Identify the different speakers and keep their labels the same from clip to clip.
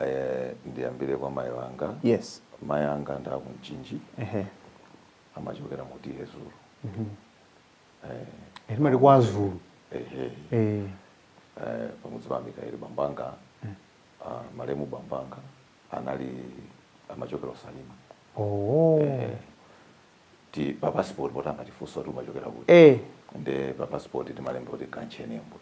Speaker 1: Eh, ndiyambire kwa mayi wanga yes mayi
Speaker 2: anga ndi
Speaker 1: aku Mchinji ehe amachokera mu T/A
Speaker 2: Zulu Eh, timati kwa azulu ehe eh eh,
Speaker 1: pamudzi pa mikaeli bambanga ah, malemu bambanga anali amachokera ku Salima oh ti pa passport poti amatifunsa kuti umachokera kuti eh nde pa passport timalemba kuti kanchenembwe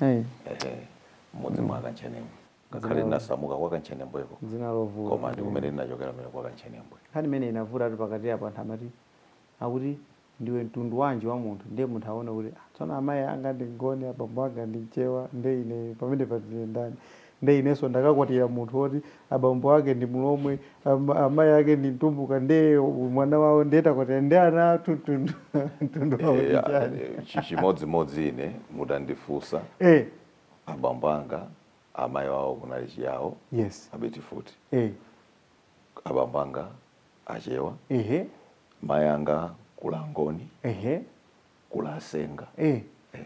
Speaker 1: eh ehe mudzi mwa kanchenembwe ngakhale Dzina- ndinasamuka kwa kanchenembweko dzina lovuta koma
Speaker 2: ndi kumene
Speaker 1: ndinachokera mene kwa kantchenembwe nkhani imene imavutatu
Speaker 2: pakati apo anthu amati akuti ndiwe mtundu wanji wa munthu ndiye munthu aona kuti "Ah, tsono amayi anga ndi mngoni abambo anga ndi mchewa nde ine pamene patine ndani nde inenso ndakakwatira munthu woti abambo ake ndi mulomwe ama- amayi ake ndi mtumbuka nde mwana wawo ndiye takwatira ndi ana athu mtundu mtundu wawo ndi Eh, chiyani eh, chi- chimodzimodzi
Speaker 1: ine mutandifunsa eh abambo anga amayi wawo kunali chiyawo yes
Speaker 2: abeti futi
Speaker 1: eh abambo anga achewa ehe mayi anga kuli angoni ehe kuli asenga eh eh.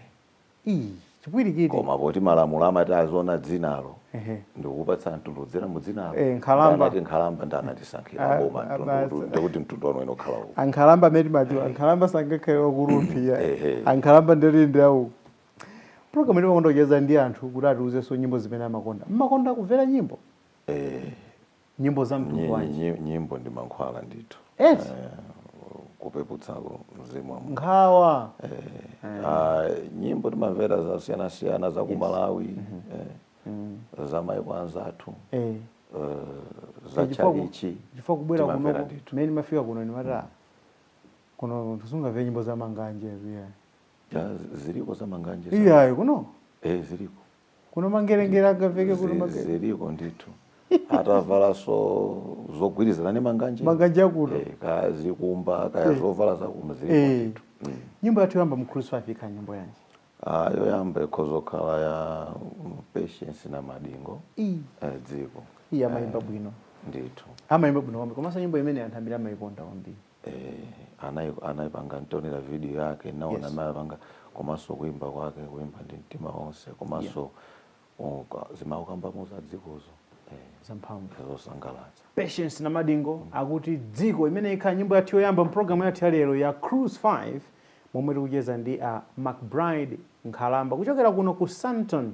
Speaker 2: ndi chipwirikiti koma poti
Speaker 1: malamulo amati aziona dzinalo ehe ndikupatsa mtundu dzina mu dzinalo Eh, nkhalamba. ndanati
Speaker 2: nkhalamba
Speaker 1: anatisankhira Ah, boma ah, basa. mtundu ndikuti mtundu wanu inokhala uku ankhalamba amene timadziwa
Speaker 2: ankhalamba sangakhale waku Rumphi Ehe. ankhalamba dera lawo Program ino imakonda kucheza ndi anthu kuti atiuzenso nyimbo zimene amakonda. Mumakonda kumvera nyimbo? Eh, Nyimbo za mtundu nyi- wanji? nyi- nyimbo ndi mankhwala
Speaker 1: ndithu Eti? Eh, kupeputsako mzimu wa munthu Nkhawa.
Speaker 2: Ah,
Speaker 1: nyimbo timamvera zosiyanasiyana za ku malawi eh, za maiko anzathu Eh. eh, za Chifukwa ku- tchalitchi chifukwa kubwera timamvera
Speaker 2: kuno ndithu. mmene ndimafika kuno ndimati kuno sitizangomvera nyimbo za manganje yeah. Ya, ziriko
Speaker 1: za manganje. za- iyayo
Speaker 2: kuno Eh,
Speaker 1: ziriko.
Speaker 2: kuno mangerengere agaveke kuno Zi- mangere Ziriko
Speaker 1: ndithu. Atavala nso zogwirizana ndi manganje. manganje akuno Eh,
Speaker 2: kaya zikumba
Speaker 1: kaya zovala za kuno ziriko Eh. ndithu. Mm. nyimbo yathu
Speaker 2: yoyamba mu cruise 5 ikhala nyimbo yanji Ah,
Speaker 1: yoyamba ikhoza kukhala ya mm, patience namadingo iyi eh, dziko iya
Speaker 2: amayimba bwino ndithu
Speaker 1: amayimba bwino kwambiri
Speaker 2: komanso nyimbo imene anthu ambiri amayikonda kwambiri eh,
Speaker 1: anai- anaipanga nditaonera video yake ndinaona Yes. mmene anapangira komanso kuimba kwake kuimba ndi mtima wonse komanso uka- zimene akukambamo za dzikozo eh, zamphamvu zosangalatsa patience
Speaker 2: namadingo akuti dziko imene ikhala nyimbo yathu yoyamba mpulogalamu yathu yalero ya cruise 5 momwe tikucheza ndi a mcbride nkhalamba kuchokera kuno ku sandton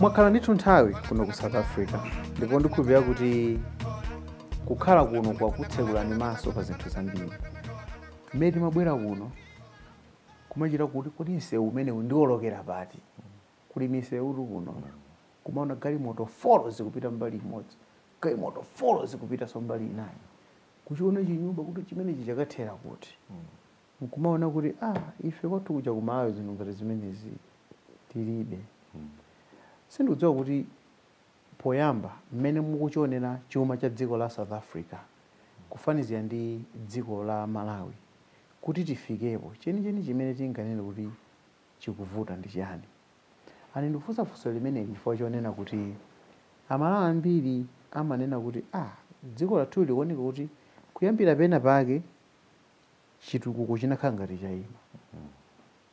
Speaker 2: mwakhala ndithu nthawi kuno ku south africa ndipo ndikhulupirira kuti kukhala kuno kwakutsekulani maso pa zinthu zambiri mmene timabwera kuno kumachita kuti kodi msewu umenewu ndiwolokera pati kuli misewutu kuno kumaona galimoto folo zikupita mbali imodzi galimoto folo zikupitanso mbali inayi kuchiona chinyumba kuti chimenechi chakathera kuti nkumaona kuti ah, ife kwathu kuja ku Malawi zinthu ngati zimenezi tilibe sindikudziwa kuti poyamba mmene mukuchionera chuma cha dziko la south africa kufanizira ndi dziko la malawi kuti tifikepo chenicheni chimene tinganene kuti chikuvuta ndi chani And ndikufunsa funso limeneli chifukwa chonena kuti Amalawi ambiri amanena kuti ah dziko lathuli likuoneka kuti kuyambira pena pake chitukuko chinakhala ngati chaima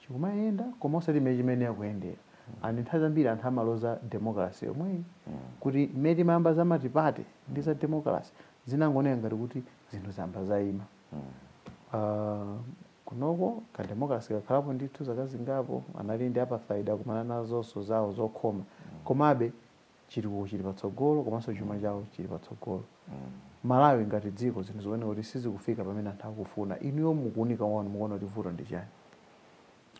Speaker 2: chikumayenda koma osati mmene chimayenera kuyendera and nthawi zambiri anthu amaloza democracy yomweyi kuti mmene timayamba za matipate ndi za democracy zinangooneka ngati kuti zinthu zayamba zaima uh, Kunoko, kademokrase kakhalapo ndithu zaka zingapo, anali ndi Apartheid akumana nazonso zawo zokhoma, komabe chitukuko chili patsogolo komanso chuma chawo chili patsogolo. Malawi ngati dziko zinthu zikuoneka kuti sizikufika pamene anthu akufuna. Inuyo mu kuunika kwanu mukuona kuti vuto ndi
Speaker 1: chani?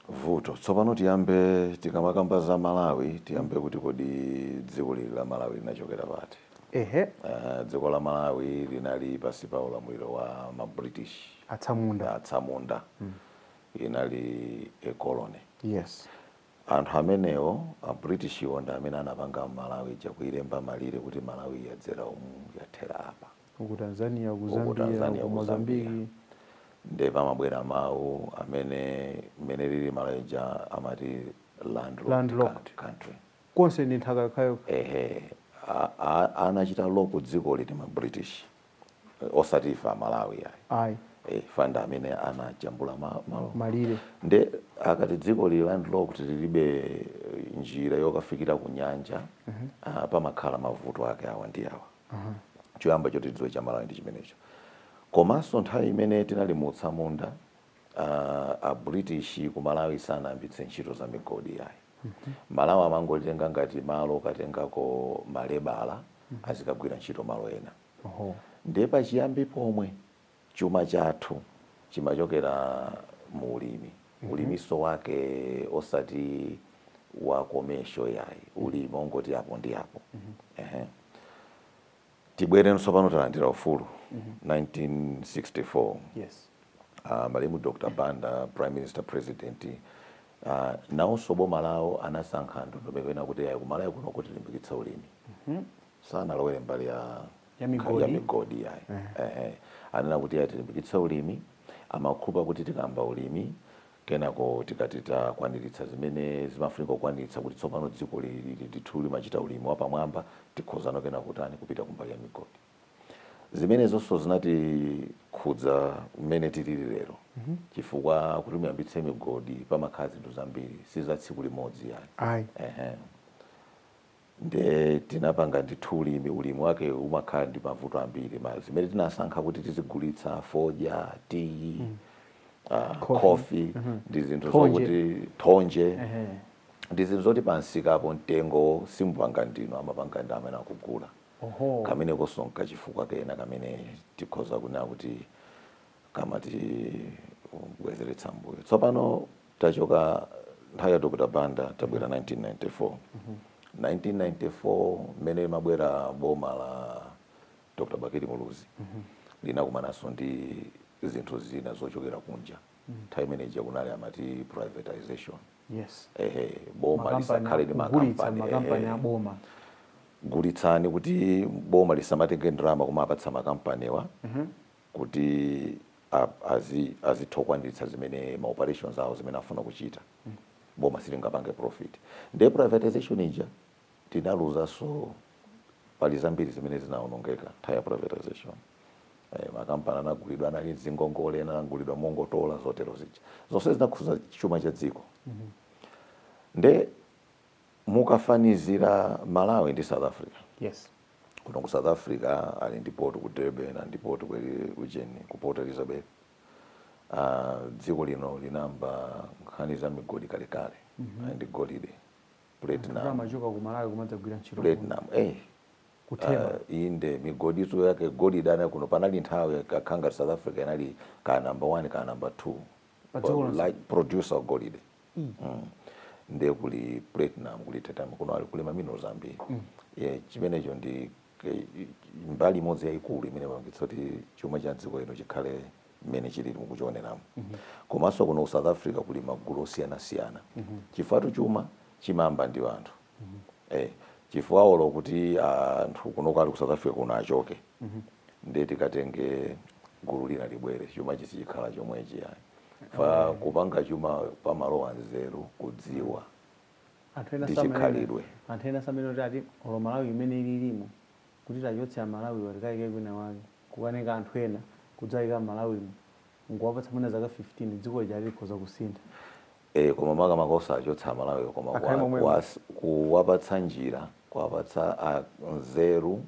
Speaker 1: Vuto, tsopano tiyambe tikamakamba za Malawi tiyambe kuti kodi dzikoli la Malawi linachokera pati? Ehe. Uh, dziko la Malawi linali pansi pa ulamuliro wa ma British atsamunda, atsamunda. Mm. inali a colony. Yes.
Speaker 2: anthu
Speaker 1: amenewo a British wo ndi amene anapanga Malawi ija kuilemba malire kuti Malawi iyi yadzera umu yathera apa ku
Speaker 2: Tanzania ku Zambia ku Mozambique nde
Speaker 1: pamabwera mawu amene mmene ilili Malawi ija amati landlocked, landlocked. country konse ndi
Speaker 2: nthaka yokhayokha. Eeeh a
Speaker 1: a anachita lock dzikoli ndi ma British osati ife a Malawi ayi Ayi.
Speaker 2: chifukwa ndi amene
Speaker 1: anajambula ma malire Malire.
Speaker 2: nde
Speaker 1: akati dzikoli landlocked lilibe njira yokafikira ku nyanja ah, pamakhala mavuto ake awa ndi awa choyamba choti tidziwe cha Malawi ndi chimenecho komanso nthawi imene tinali mu utsamunda Aaa a British ku Malawi sanayambitse ntchito za migodi yayi. Malawi amangolitenga ngati malo okatengako malebala azikagwira ntchito malo ena. Ndiye pachiyambi pomwe chuma chathu chimachokera mu ulimi. Uliminso wake osati wa commercial yayi, ulimi ongoti apo ndi apo. Tibwere tsopano talandira ufulu 1964
Speaker 2: yes. uh,
Speaker 1: malemu Dr. Banda prime minister president uh, nawonso boma lawo anasankha ndondomeko ina kuti ayi ku Malawi kuno tilimbikitsa ulimi sanalowere mbali ya Ya migodi. ya migodi yayi eh. eh. anena kuti ayi tilimbikitsa ulimi amakhulupa kuti tikamba ulimi Kenako tikati takwaniritsa zimene zimafunika kukwaniritsa kuti tsopano dziko li lili ndithu limachita ulimi wapamwamba, tikhozano kena kutani, kupita kumbali ya migodi. Zimenezonso zinatikhudza mmene tilili lero chifukwa kuti muyambitse migodi pamakhala zinthu zambiri, si za tsiku limodzi ayi. Ayi. Ehe. nde tinapanga ndithu ulimi, ulimi wake umakhala ndi mavuto ambiri ma zimene tinasankha kuti tizigulitsa fodya, tiyi, ah, Coffee. khofi ndi zinthu Thonje. zokuti thonje Ehe. ndi zinthu zoti pansikapo mtengo simupanga ndinu amapanga ndi amene akugula Oho. kamene kosonkha chifukwa kena kamene tikhoza kunena kuti kamatibwezeretsa mbuyo tsopano Tachoka nthawi ya Dr Banda tabwera 1994. 1994 mmene limabwera boma la Dr Bakili Muluzi linakumananso ndi zinthu zina zochokera kunja. Nthawi imene ija kunali amati privatization. Yes.
Speaker 2: Ehe, boma Makampani
Speaker 1: lisakhale ndi akugulitsa makampani. makampani Ehe. a boma.
Speaker 2: Gulitsani
Speaker 1: kuti boma lisamatenge ndalama kumapatsa makampaniwa. kuti azitha kukwaniritsa zimene ma operations awo zimene afuna kuchita boma silingapange profit ndiye privatization ija tinaluzanso pali zambiri zimene zinaonongeka nthawi ya privatization eh, makampani anagulidwa anali ndi zingongole ena anagulidwa mongotola zotero zija zonse zinakhuza chuma cha dziko mm -hmm. nde Mukafanizira Malawi ndi South Africa.
Speaker 2: Yes. Kuno ku
Speaker 1: South Africa ali ndi port ku Durban, ndi port ku ujeni ku Port Elizabeth. Uh, dziko lino linamba nkhani za migodi kalekale mm -hmm.
Speaker 2: ali ndi golide platinum platinum
Speaker 1: eh ku Theba uh, inde migoditu yake golide ana kuno panali nthawi kakhala ngati South Africa inali ka number 1 ka number 2 like producer golide mm. nde kuli platinum kuli titanium kuno ali kuli maminerals ambiri mm. yeah, chimenecho ndi mbali imodzi yayikulu imene ipangitsa kuti chuma cha dziko lino chikhale mmene chili mukuchioneramu mm -hmm. komanso kuno ku south africa kuli magulu osiyanasiyana mm -hmm. chifukwatu chuma chimamba ndi anthu eh, chifukwa olo kuti anthu kunoko ali ku south africa kuno achoke ndiye tikatenge gulu lina libwere chuma sichikhala chomwechi ayi fa kupanga chuma pamalowa nzeru kudziwa ndi chikhalidwe. anthu
Speaker 2: ena amanena kuti ati olo malawi imene ililimo kuti tachotsa amalawi watikayike kwina wake kukatenga anthu ena kudzayika m'malawi mu nkuwapatsa mwina zaka 15 dziko lija likhoza kusintha
Speaker 1: ee koma makamaka osachotsa amalawiwo koma Akhale kuwa, momwemo. kuwas, kuwapatsa njira kuwapatsa a nzeru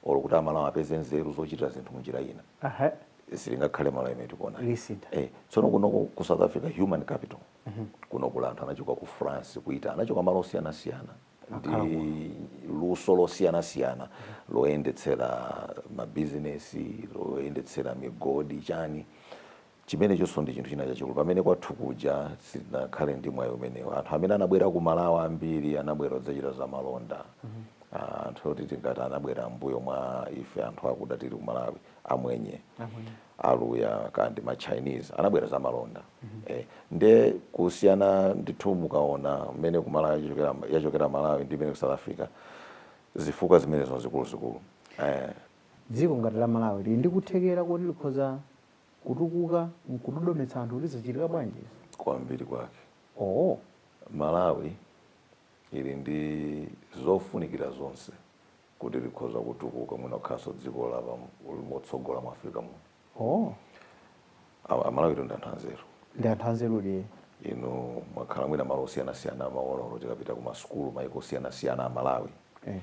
Speaker 1: or kuti amalawi apeze nzeru zochitira zinthu munjira ina Aha. silingakhale malawi imene tikuona Lisintha. eh, tsono kuno ku ku south africa human capital kuno kuli anthu anachoka ku france kuita anachoka malo osiyanasiyana ndi luso losiyanasiyana loyendetsera mabizinesi loyendetsera migodi chani Chimenechonso ndi chinthu china chachikulu. Pamene kwathu kuja sitinakhale ndi mwayi umenewo. Anthu amene anabwera ku Malawi ambiri anabwera kudzachita zamalonda. Anthu oti tingati anabwera m'mbuyo mwa ife anthu akuda tili ku Malawi, amwenye, aluya kaya ndi ma Chinese, anabwera zamalonda. Eeh, ndiye kusiyana ndithu mukaona mmene ku Malawi yachokera, yachokera Malawi ndi mmene ku South Africa, zifukwa zimenezo nzikuluzikulu. Eeh.
Speaker 2: Dziko ngati la Malawi lili ndi kuthekera koti likhoza. kutukuka nkudodometsa anthu kuti zachitika bwanji izi? kwambiri
Speaker 1: kwake. Owo. Malawi ili ndi zofunikira zonse kuti likhoza kutukuka mwina kukhalanso dziko lotsogola mu Africa muno. Owo. A Malawitu ndi anthu anzeru. Ndi anthu
Speaker 2: anzerudi ee.
Speaker 1: Inu mwakhala mwina malo osiyanasiyana mumaona olo tikapita ku masukulu maiko osiyanasiyana a Malawi Ee.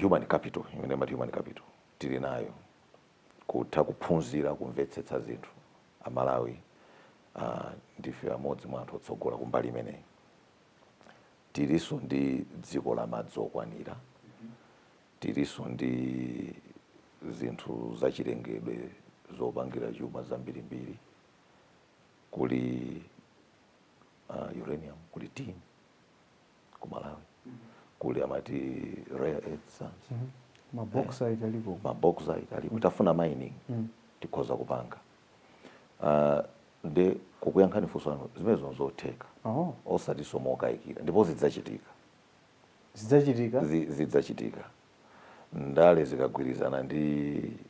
Speaker 1: human capital imene amati human capital tili nayo. kutha kuphunzira kumvetsetsa zinthu. A Malawi ndife amodzi mwa anthu otsogola kumbali imeneyi. Tilinso ndi dziko la madzi okwanira, tilinso ndi zinthu za chilengedwe zopangira chuma zambirimbiri, kuli uranium, kuli tin. ku malawi kuli amati rare earth sands
Speaker 2: mabauxite aliko mabauxite
Speaker 1: aliko titafuna mining tikhoza kupanga Ah, nde kukuyankhani funso lanu zimenezo nzotheka oh osatinso mokayikira ndipo zidzachitika zidzachitika Zi- zidzachitika ndale zikagwirizana ndi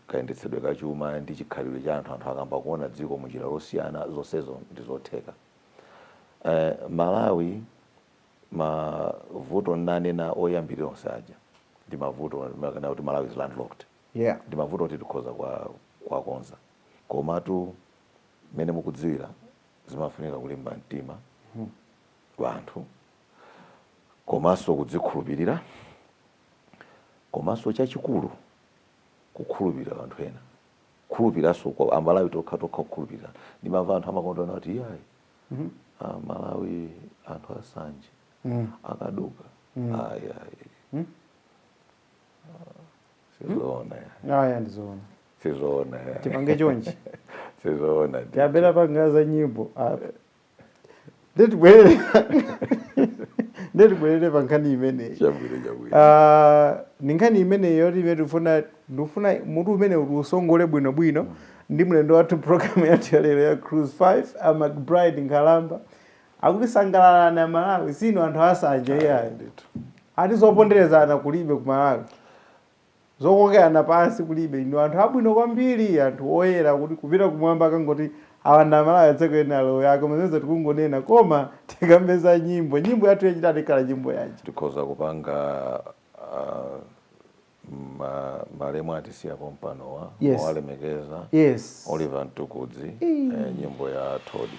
Speaker 1: kayendetsedwe ka chuma ndi chikhalidwe cha anthu anthu akayamba kuona dziko munjira yosiyana zonsezo ndi zotheka Eh, Malawi mavuto ndinanena oyambirira onse aja ndi mavuto ngakhale kuti Malawi is landlocked yeah. ndi mavuto oti tikhoza kwa- kuwakonza komatu mmene mukudziwira zimafunika kulimba mtima kwa anthu komanso kudzikhulupirira komanso chachikulu kukhulupirira anthu ena kukhulupirirananso kwa amalawi tokha tokha kukhulupirira ndimamva anthu amakonda kunena kuti iyayi mm -hmm. malawi anthu asanje mm. akaduka mm. ayayi mm. sizoona mm. aya
Speaker 2: ndizoona sizoona
Speaker 1: tipange chonchi
Speaker 2: sizoona
Speaker 1: tiyambe tapanga
Speaker 2: za nyimbo Nde tibwerere. Nde tibwerere pa nkhani imeneyi. Chabwino chabwino. Ah, ndi nkhani imeneyi yoti imene tikufuna ndikufuna mutu umenewu usongole bwino bwino ndi mlendo wathu program yathu ya lero ya cruise 5 a mcbride nkhalamba akuti sangalalani amalawi si inu anthu asanje iyayi Ndithu. ati zoponderezana kulibe ku malawi Zokokerana pansi kulibe, ndinu anthu abwino kwambiri, anthu oyera kuti kupita kumwamba akangoti awa ndi amalawi adzayambe ena alowe aah koma zimenezo tikungonena koma tikambe za nyimbo nyimbo yathu yachitatu ikhala nyimbo yanji? Tikhoza
Speaker 1: kupanga aah malemu atisiya pompanowa Yes. mowalemekeza Yes. Oliver Mtukudzi Eee. eeh nyimbo ya Todii.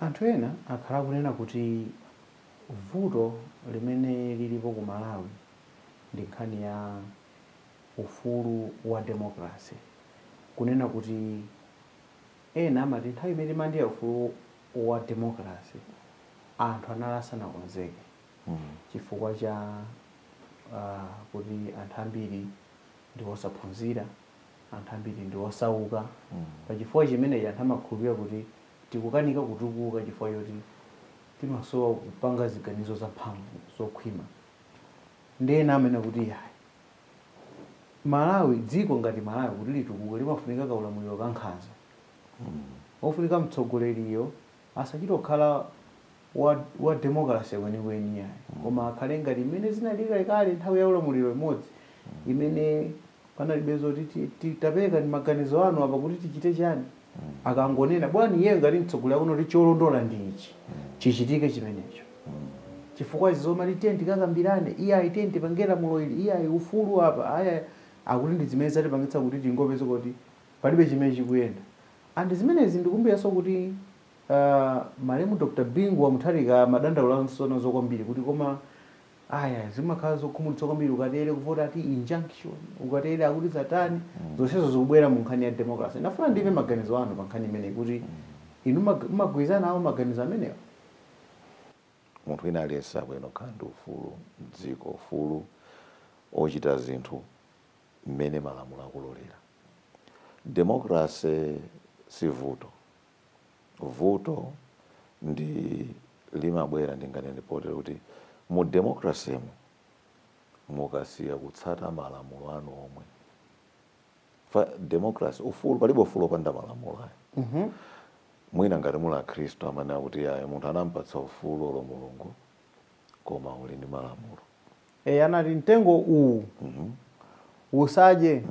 Speaker 2: Anthu ena akhala akunena kuti vuto limene lilipo ku Malawi ndi nkhani ya ufulu wa demokalase. Kunena kuti ena amati nthawi imene timalandira ufulu wa demokalase anthu anali asanakonzeke chifukwa cha kuti anthu ambiri ndi osaphunzira. anthu ambiri ndi osauka pa chifukwa chimenechi anthu amakhulupirira kuti tikukanika kutukuka chifukwa choti timasowa kupanga ziganizo zamphamvu zokhwima ndi ena amanena kuti yayi malawi dziko ngati malawi kuti litukuke limafunika kaulamuliro kankhanza kofunika mtsogoleriyo Asachite kukhala wa, wa demokalase kwenikweni iyayi, koma akhale ngati mmene zinalili kalekale nthawi ya ulamuliro imodzi imene panalibe zoti ta, ta, taperekani maganizo anu apa kuti tichite chiyani. Akangonena, bwana, iyeyo ngati mtsogoleri akuona kuti cholondola ndi ichi, chichitike chimenecho. Chifukwa izi zomati tiyeni tikakambirane, iyayi tiyeni tipange lamulo ili, iyayi ufulu apa, ayi, ayi, akuti ndi zimene zatipangitsa kuti tingopezeka kuti palibe chimene chikuyenda. And zimenezi ndikumbukiranso kuti aah malemu Dr Bingu wa Mutharika amadandaulanso nazo kwambiri kuti koma ayaa zimakhala zokhumudwitsa kwambiri ukatere kuvota ati injunction ukatere akuti zatani zonsezo zikubwera mu nkhani ya democracy. Ndafuna ndimve maganizo anu pa nkhani imeneyi kuti inu mumag mumagwirizana nawo maganizo
Speaker 1: amenewa? Munthu wina aliyense akuyenera kukhala ndi ufulu m'dziko, ufulu ochita zinthu mmene malamulo akulolera. Democracy si vuto. Vuto ndi limabwera ndinganene potere kuti mu democracy mu mukasiya kutsata malamulo anu omwe pa democracy ufulu palibe ufulu opanda malamulo ayi mm -hmm. mwina ngati muli akhristu amene akuti ayi munthu anampatsa ufulu olo mulungu koma uli ndi malamulo e,
Speaker 2: anati mtengo uwu usadye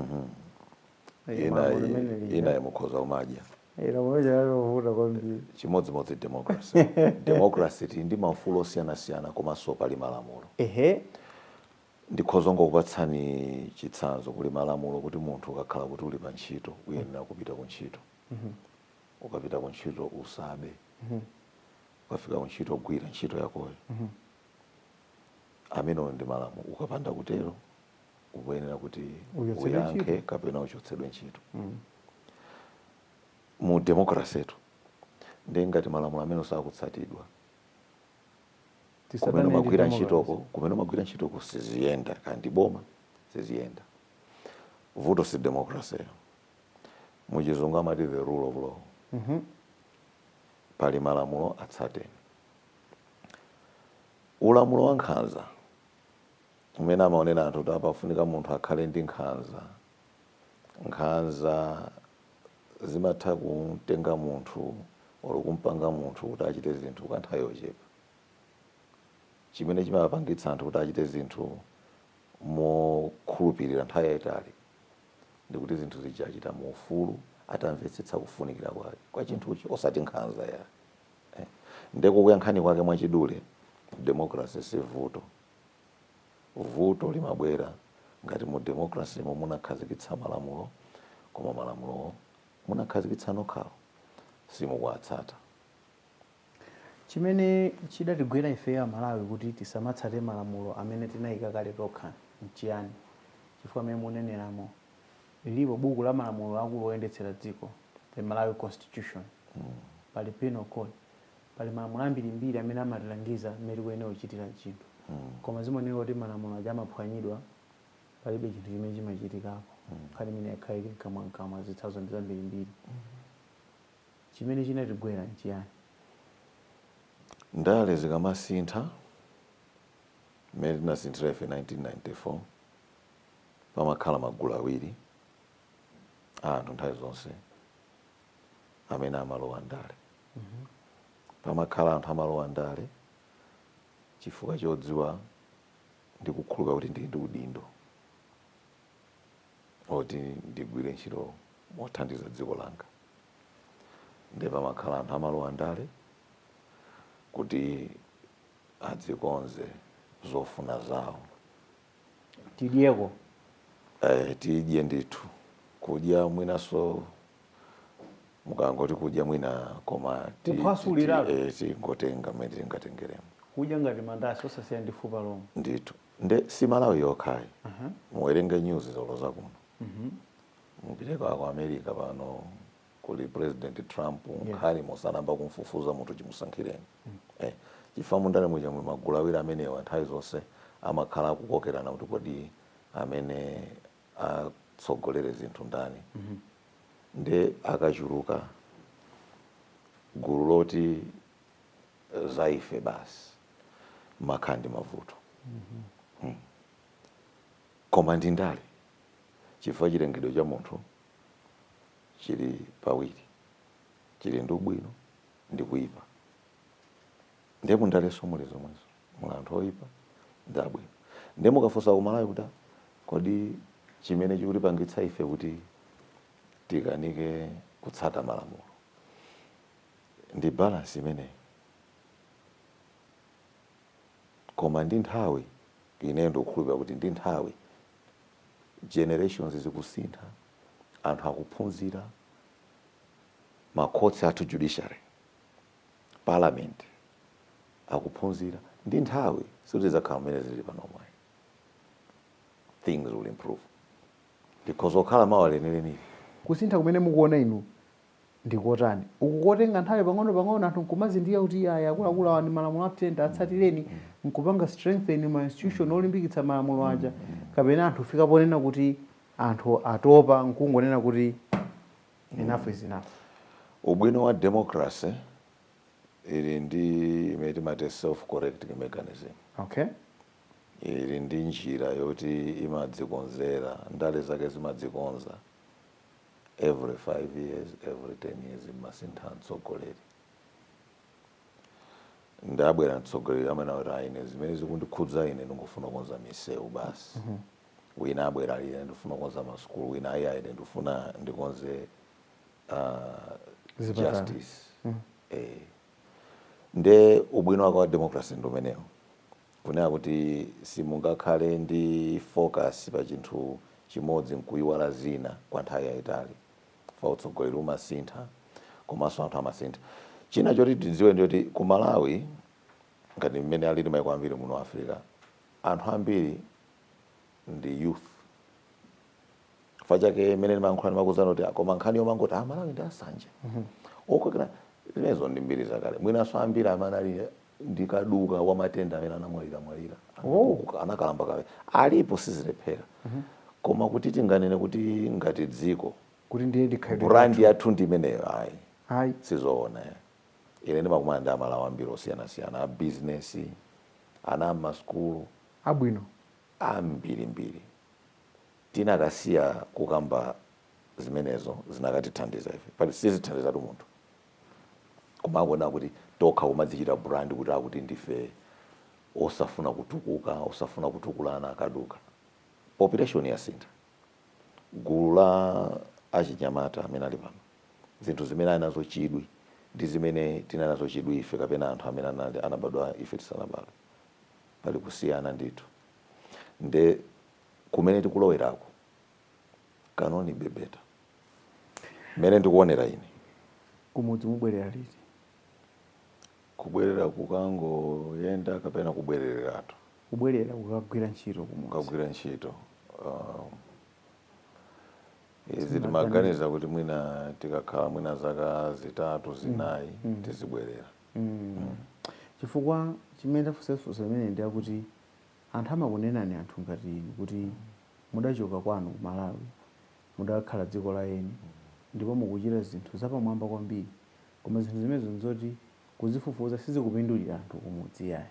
Speaker 2: Eh,
Speaker 1: ina malamulo limene lija. inayi mukhoza kumadya Eh, lamulo lija lalovuta
Speaker 2: kwambiri chimodzimodzi
Speaker 1: democracy democracy tili ndi maufulu osiyanasiyana komanso pali malamulo ehe ndikhoza ngokupatsani chitsanzo kuli malamulo kuti munthu ukakhala kuti uli pa ntchito uyenera kupita ku ntchito ukapita ku ntchito usabe ukafika ku ntchito gwira ntchito yakoyo amenewo ndi malamulo ukapanda kutero ukuyenera kuti Uchotsedwe uyankhe ntchito. kapena uchotsedwe ntchito mu democracy tu ndiye ngati malamulo amenewa sakutsatidwa kumene Tisadane ndi umagwira democracy. ntchitoko kumene umagwira ntchitoko siziyenda kandi boma siziyenda vuto si democracy muchizungu amati the rule of law pali malamulo atsateni Ulamulo wa nkhanza umene amaonera anthu kuti apa pafunika munthu akhale ndi nkhanza. Nkhanza zimatha kumtenga munthu olo kumpanga munthu kuti achite zinthu kwa nthawi yochepa. Chimene chimapangitsa anthu kuti achite zinthu mokhulupirira nthawi yaitali ndi kuti zinthu zija achita mu ufulu atamvetsetsa kufunikira kwake kwa chinthucho osati nkhanza yayi. eh. nde kukuyankhani kwake mwachidule democracy si vuto vuto limabwera ngati mu democracy mo munakhazikitsa malamulo koma malamulowo munakhazikitsa nokhawo
Speaker 2: simukuwatsata chimene chidatigwera ifeyo amalawi kuti tisamatsate malamulo amene tinayika kale tokha nchiyani chifukwa mmene muneneramo lilipo buku la malamulo akulu oyendetsera dziko the malawi constitution pali penal code pali malamulo ambirimbiri amene amatilangiza mmene tikuyenera kuchitira chinthu koma zimaoneka kuti malamulo aja amaphwanyidwa palibe chinthu chimene chimachitikapo nkhani imeneyi yakhala ili mkamwamkamwa zitsanzo ndi zambirimbiri chimene chinatigwera
Speaker 1: nchiyani ndale zikamasintha mmene tinasinthira ife 1994 pamakhala magulu awiri a anthu nthawi zonse amene amalowa ndale pamakhala anthu amalowa ndale chifukwa chodziwa ndi kukhulupirira kuti ndili ndi udindo oti ndigwire ntchito mothandiza dziko langa ndiye pamakhala anthu amalowa ndale kuti adzikonze zofuna zawo
Speaker 2: tidyeko
Speaker 1: eh, tidye ndithu kudya mwinaso mukangoti kudya mwina koma ti- Kuphwasulira. ti- eh, tingotenga mmene tingatengeremo kudya ngati
Speaker 2: mandasi osasiya ndi fupa lomwe ndithu
Speaker 1: nde si malawi yokhayi muwerenge news zolozakuno mupiteko ku america pano kuli president trump nkhani mmo sanayamba kumfufuza munthu chimusankhireni eh, chifukwa mundale muja muli magulu awiri amenewa nthawi zonse amakhala akukokerana kuti kodi amene atsogolere zinthu ndani nde akachuluka gulu loti eh, za ife basi mumakhala ndi mavuto Mm. koma ndi ndale chifukwa chilengedwe cha munthu chili pawiri, chili ndi ubwino ndi kuipa. Ndiye mu ndaleso muli zomwezo, muli anthu oipa ndi abwino. Ndiye mukafunsa ku Malawi kuti ah, kodi chimene chikutipangitsa ife kuti tikanike kutsata malamulo ndi balance imeneyi, koma ndi nthawi ineyo ndikukhulupirira kuti ndi nthawi generations zikusintha anthu akuphunzira ma courts athu judiciary parliament akuphunzira ndi nthawi sizidzakhala mmene zili panopo ayi. things will improve ndikudzakhala mawa lenileni kusintha kumene
Speaker 2: mukuona inu ndi kotani uku kotenga nthawi pang'ono pang'ono anthu nkumazindikira kuti iyayi akuluakulu awa ndi malamulo atiyenda atsatireni nkupanga strengthen ma institution olimbikitsa malamulo aja kapena anthu kufika ponena kuti anthu atopa nkungonena kuti enough is enough ubwino
Speaker 1: wa democracy ili ndi imene timati self correcting mechanism okay
Speaker 2: ili
Speaker 1: ndi njira yoti imadzikonzera ndale zake zimadzikonza every 5 years every 10 years mmasintha mtsogoleri nde abwera mtsogoleri amene akuti ayi ine zimene zikundikhudza ine ndikufuna kukonza misewu basi wina abwera ali ine ndifuna kukonza masukulu wina ayi ayi ine ndifuna ndikonze ah, justice eh. nde ubwino wake wa democracy ndi umenewo Kunena kuti simungakhale ndi focus pa chinthu chimodzi nkuiwala zina kwa nthawi yaitali chifukwa utsogoleri umasintha komanso anthu amasintha. China choti tidziwe ndi choti ku Malawi ngati mmene alili maiko ambiri muno mu Africa, anthu ambiri ndi youth. Chifukwa chake mmene ndimayankhula ndimakuuzani kuti koma nkhani yomangoti a Malawi ndi asanje, okokera, zimenezo ndi mbiri zakale. Mwinanso ambiri amene ali ndi kaduka wa matenda amene anamwaliramwalira anakalamba kale alipo sizilephera koma kuti tinganene kuti ngati dziko kuti ndiye ndikhalidwe
Speaker 2: brandi yathu ndi imeneyo
Speaker 1: ayi ayi sizoona eh. ine ndimakumana ndi amalawi ambiri osiyanasiyana abizinesi ana ammasukulu abwino ambirimbiri tinakasiya kukamba zimenezo zinakatithandiza ife pali sizithandizatu munthu Kumaona kuti tokha kumadzichita brand kuti akuti ndife osafuna kutukuka, osafuna kutukulana akaduka. Population yasintha. Gulu la achinyamata amene ali pano, zinthu zimene ali nazo chidwi ndi zimene tinali nazo chidwi ife kapena anthu amene anali, anabadwa ife tisanabadwe. Pali kusiyana ndithu. Nde kumene tikulowerako, can only be better. mmene ndikuonera ine
Speaker 2: kumudzi mubwerera liti
Speaker 1: kubwerera kukangoyenda kapena kubwerereratu kubwerera
Speaker 2: kukagwira ntchito kumudzi kukagwira ntchito
Speaker 1: um, izi timaganiza kuti mwina tikakhala mwina zaka zitatu zinayi tizibwerera Mm.
Speaker 2: chifukwa chimene ndafunsa funso limeneli ndi chakuti anthu amakunenani anthu ngati inu kuti mudachoka kwanu ku malawi mudakhala dziko la eni ndipo mukuchita zinthu zapamwamba kwambiri koma zinthu zimenezo nzoti kuzifufuza sizikupindulira anthu kumudzi iyayi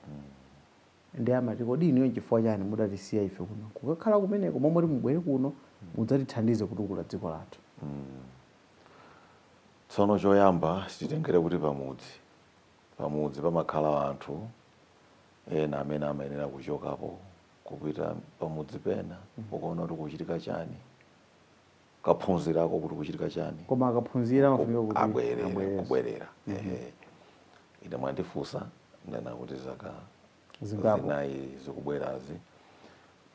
Speaker 2: ndiye amati kodi inuyo nchifukwa chani mudatisiya ife kuno nkukakhala kumeneko mmalo moti mubwere kuno mudzatithandize kutukula dziko
Speaker 1: lathu. Tsono choyamba titengere kuti pamudzi pamudzi pamakhala anthu ena amene amayenera kuchokapo kupita pamudzi pena kukaona kuti kukuchitika chani kukaphunzirako kuti kukuchitika chani koma akaphunzira amafunika
Speaker 2: kuti abwerere abwerere. kubwerera
Speaker 1: ehe ine mwandifunsa ndanena kuti zaka Zingapo. zinayi zikubwerazi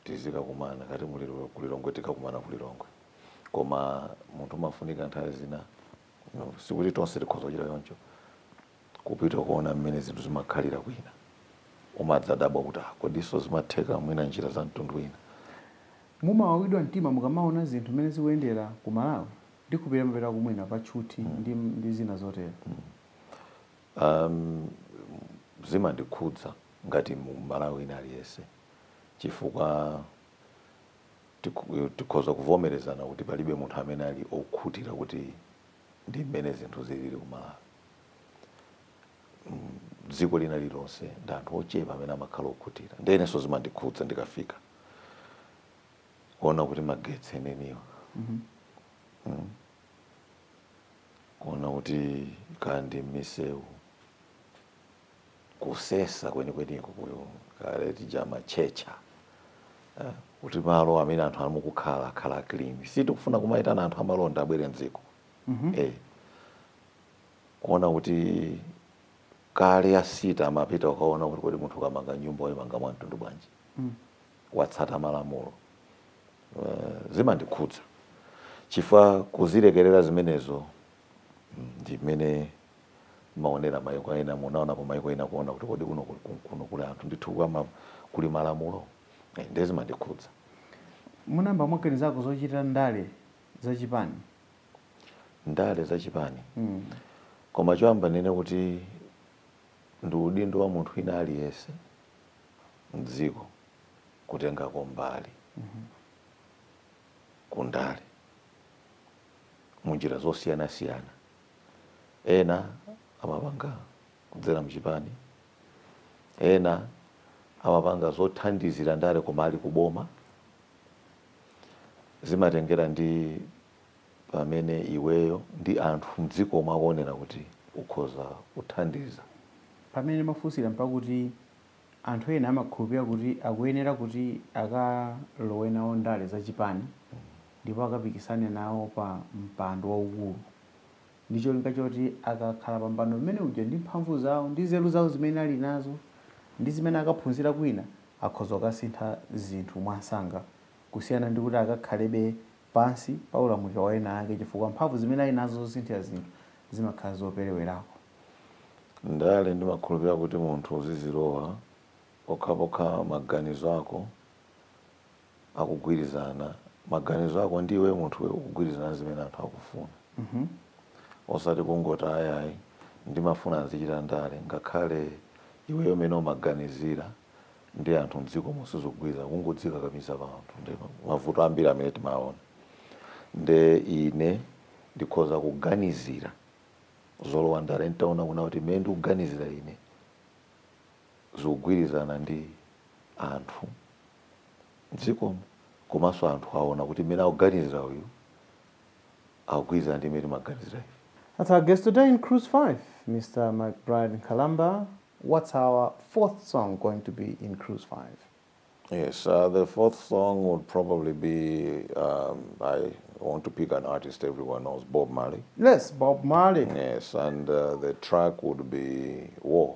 Speaker 1: tizikakumana ngati muli kulilongwe tikakumana kulilongwe koma munthu umafunika nthawi zina no, sikuti tonse tikhoza kuchita choncho kupita kukaona mmene zinthu zimakhalira kwina. Umadzadabwa kuti, ah, kodinso zimatheka mwina m'njira za mtundu wina? Mumawawidwa
Speaker 2: mtima mukamaona zinthu mmene zikuyendera ku Malawi? Ndikhulupirira mumapitako mwina pa tchuthi ndi, ndi zina zotero. Um,
Speaker 1: zimandikhudza ngati Mmalawi wina aliyense chifukwa tiku- tikhoza kuvomerezana kuti palibe munthu amene ali okhutira kuti ndi mmene zinthu zilili ku Malawi. Mm, Dziko lina lilonse ndi anthu ochepa amene amakhala okhutira. Ndiye inenso zimandikhudza ndikafika kuona kuti magetsi enieniwa Mm. kuona kuti kodi m'misewu kusesa kwenikweniko kuyo kale tinkatchetcha eh, kuti malo amene anthu ali mukukhala akhale clean si tikufuna kumayitana anthu amalonda abwere mdziko eh, kuona kuti kale a city amapita kukaona kuti kodi munthu ukamanga nyumba ukuyimanga mwa mtundu bwanji watsatira malamulo Eh, zimandikhudza chifukwa kuzilekerera zimenezo mm, ndi mmene mumaonera maiko ena munaonapo maiko ena kuona kuti kodi kuno kuno kuli anthu ndithu kapena kuli malamulo eh, ndiye zimandikhudza munayamba
Speaker 2: mwaganizako zochita ndale za chipani
Speaker 1: ndale za chipani mm. koma choyamba ndinene kuti ndi udindo wa munthu wina aliyense mdziko kutengako mbali mm -hmm. kundale munjira zosiyanasiyana Ena amapanga kudzera mchipani, ena amapanga zothandizira ndale koma ali kuboma. Zimatengera ndi pamene iweyo ndi anthu mdzikomo akuonera kuti ukhoza kuthandiza. Pamene
Speaker 2: mwafunsira mpakuti anthu ena amakhulupirira kuti akuyenera kuti akalowe nawo ndale zachipani. ndipo akapikisane nawo pa mpando waukulu, ndi cholinga choti akakhala pa mpando umene uja ndi mphamvu zawo ndi nzeru zawo zimene ali nazo ndi zimene akaphunzira kwina akhoza kukasintha zinthu mwansanga kusiyana ndi kuti akakhalebe pansi pa ulamuliro wa ena ake chifukwa mphamvu zimene ali nazo zosinthira zinthu zimakhala zoperewerako.
Speaker 1: Ndale ndimakhulupirira kuti munthu uzizilowa pokhapokha maganizo ako akugwirizana maganizo ako ndi iwe munthu iwe ukugwirizana ndi zimene anthu akufuna osati kungoti ayi ayi ndimafuna nzichita ndale ngakhale iweyo mmene umaganizira ndi anthu mdzikomo sizikugwirizana kungodzikakamiza pa anthu ndi mavuto ambiri amene timaona nde ine ndikhoza kuganizira zolowa ndale nditaona kunena kuti mmene ndikuganizira ine zikugwirizana ndi anthu mdzikomo komanso anthu aona kuti mmene akuganizira uyu akugwirizana ndi mmene timaganizira ife. That's our guest
Speaker 2: today in Cruise 5, Mr. McBride Nkhalamba. What's our fourth song going to be in Cruise 5? Yes,
Speaker 1: uh, the fourth song would probably be um, I want to pick an artist everyone knows, Bob Marley. Yes, Bob
Speaker 2: Marley. Yes, and uh,
Speaker 1: the track would be War.